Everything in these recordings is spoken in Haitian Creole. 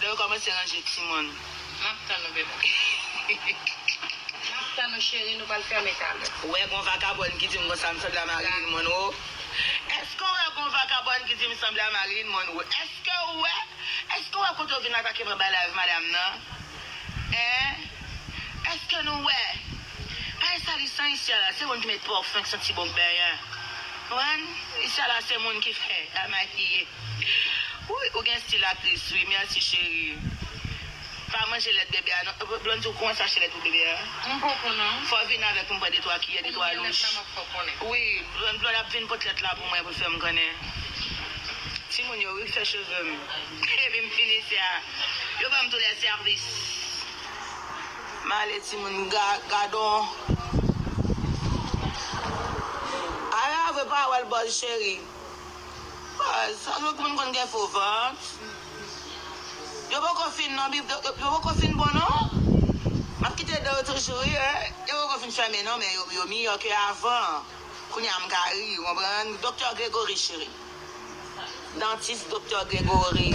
Lè yo kòmanse ranje timoun. Map tann ou bebem. Map tann ou cheri nou pral fèmen talè. Ou wè gon vakabòn ki dim konsa m sanble a Marilyn Monroe Èske ou wè gon vakabòn ki dim sanble a Marilyn Monroe Èske ou wè Èske ou wè kote ou vin atake mwen bay live madam nan Hein Èske nou wè Pa esalisan isi a la se moun ki met pòfin k santi bon k benyen Konprann Isi a la se moun ki fè la makiye. Wouyy ou gen stil aktris wi merci cherie pa manje lèt bebe a non Blondy ou kòmanse achte lèt pou bebe a Mwen poko nan. fò vin avèk m pran de twa kiyè de twa louch wi Blondy lòl ap vin pot lèt la pou mwen pou l fèm konnen timoun yo wi k fè cheve m epi m fini se a yo banm tou lè sèvis male timoun gadon Ara vre pa wèl bòz cherie. Baz, sa nou moun konn gen fo vant. Yo poko fin non bib yo poko fin bon non map kite danw toujou wi yo poko fin fèmen non men yo miyò ke avan kounya m ka ri ou konprann doktè Gregory cheri dantis doktè Gregory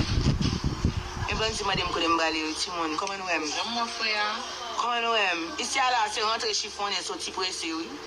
men bann ti mandem kote m prale yo timoun kòman nou wèm kòman nou wèm isi a la se rantre chifonnen soti prese wi.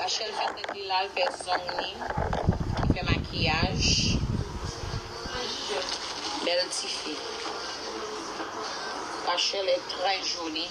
Rachelle fè tèt li la, l fè zong li, li fè makiyaj. Bèl ti fi. Rachelle est très jolie.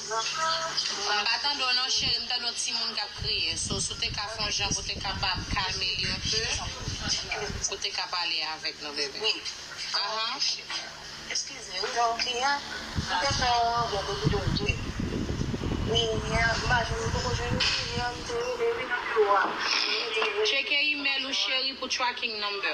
M pa tande w non cheri m tande yon ti moun kap kriye so si w te ka fè yon jan pou w te kapab kalme li yon ti jan pou w te ka pale avèk nou bebe ahh. Tcheke email ou cheri pou tracking number.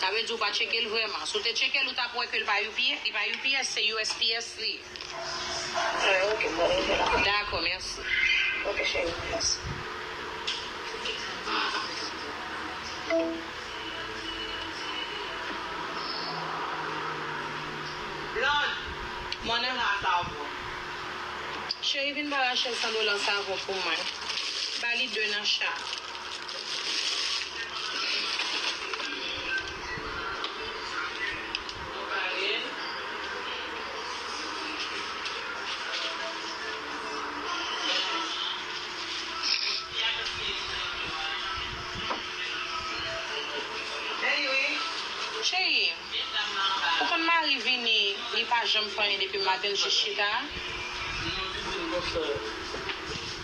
Sa vle di ou pa tcheke l vrèman. Si w te tcheke l ou tap wè ke l pa UPS, li pa UPS se usps li ye. Alright ok m pral rete la. Dakò mèsi. Ok cheri mèsi. Blonde, mande m la savon. Cheri vin ba Rachel 100 dola savon pou mwen. Ba li 2 nan cha. Cheri, ou konn Marie vini li pa janm fè anyen depi maten l jis chita?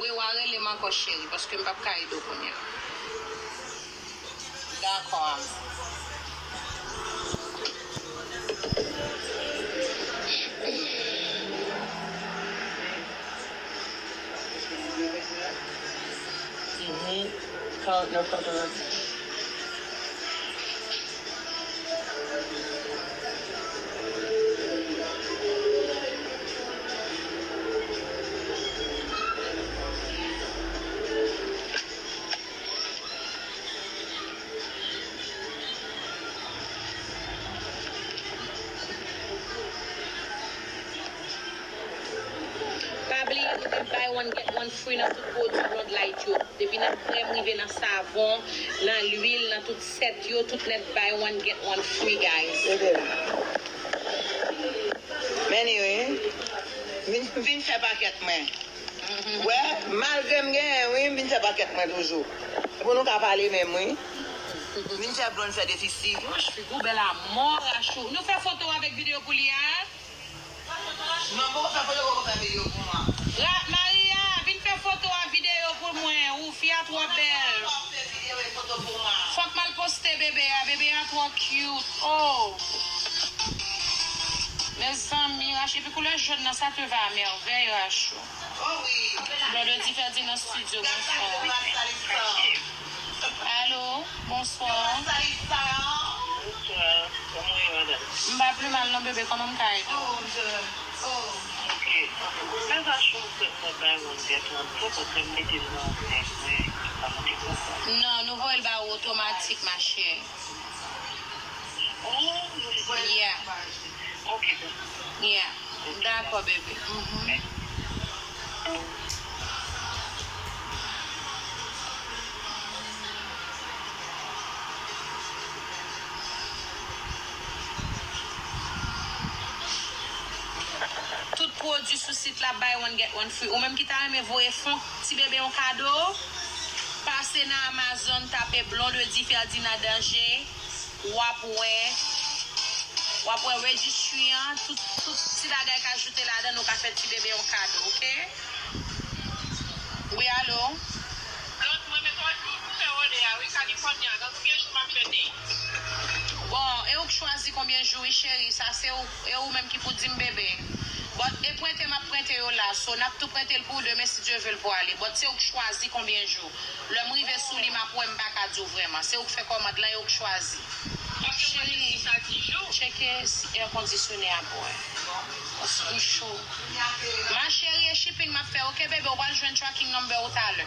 Wi wa relem ankò cheri paske m pap ka edew kounya Dakò am. Pa bliye nou gen buy one get one free nan tout pwodwi Blondlite yo. Depi nan krèm rive nan savon, nan lwil, nan tout. Tèt yo tout nèt buy one get one free guys. Ede la. Men li wi. Vin vin fè pakèt mwen. Wè malgre m genyen wi m vin fè pakèt mwen toujou. Se pou nou ka pale menm wi. Vin fè blond fè defisi. Woch figou bèl amò rachou. Nou fè foto avèk video pou li a. Maria vin fè foto a video pou mwen ooh fi a twò bèl fòk mal poste bebe a bebe a twò cute ooh mezanmi rachou epi koulè jaune nan sa te va a merveille rachou. Brother di fè di nan studio bonswa. Allo bonswa. M pa pli mal non bebe koman m ka ede w. Non nou voye l ba ou otomatik ma chère. Tout pwodwi sou sit la buy one get one free. Ou menm ki ta renmen voye fon. Ti bebe yon kado, pase nan Amazon tape Blondedy Ferdinand Danje wap wè wap wè registry an tout tout ti bagay k ajoute ladann ou ka fè ti bebe yon kado ok wi alo. Blond mwen met òd pou pou fè òdè a wi California gen konbyen jou map fè te. Bon e ou k chwazi konbyen jou wi cheri sa se ou. E ou menm ki pou dim bebe. But e prente map prente yo la so nap tou prentel pou ou demen si Dye vel pou ale but se ouk chwazi konbyen jou lèm rive souli map wè mpaka diw vrèman se ouk fè kòmand lan e ouk chwazi Cheri tcheke si air kondisyone a bon pask ou cho ma Cheri e shipping map fè ok bebe ou pral jwenn tracking number ou talè.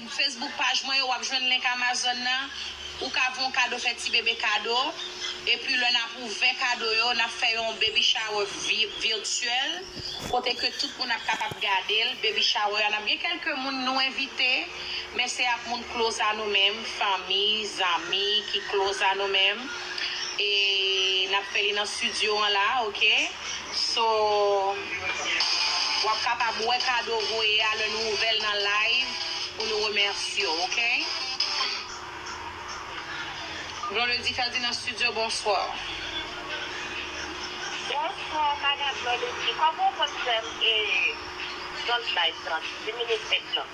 Facebook paj mwen yo wap jwenn link Amazon nan ou ka voun kado fè ti bebe kado epi lè nap ouvè kado yo nap fè yon baby shower virtuel kote ke tout moun ap kapab gadel baby shower a nap gen kelke moun nou envite men se ap moun close a nou menm fanmi zanmi ki close a nou menm e nap fè li nan studio an la ok. So wap kapab wè kado voye a lè nou ouvèl nan live pou nou remèsyew ok. Blondedy Felty nan studio bonsoir. Bonsoir madame Blondedy koman ou konn fèm e zòn bay 30 minutes maintenant.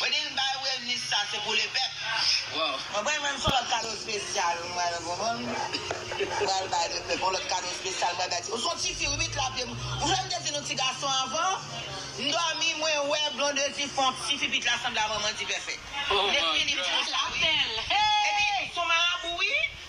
Wendy m bay Wilnis sa se pou le pèp. Waww. Mwen pral jwenn son lòt kado spesyal m pral konprann m pral bay le pèp yon lòt kado spesyal m pral bay ti ou son tifi wi mit la pyem ou fè m te di nou ti gason avan m dòmi mwen wè blondedy fon tifi bit la sanble a manman dipèfèt oh mon Dieu. Lap bèl hee. Epi son marabou wi.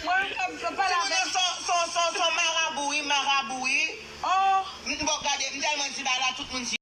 Mwen menm kap vle pale avèl. Ti moun nan son son son marabou wi marabou wi. Oh. M t bò gade m tèlman di bagay la tout moun di.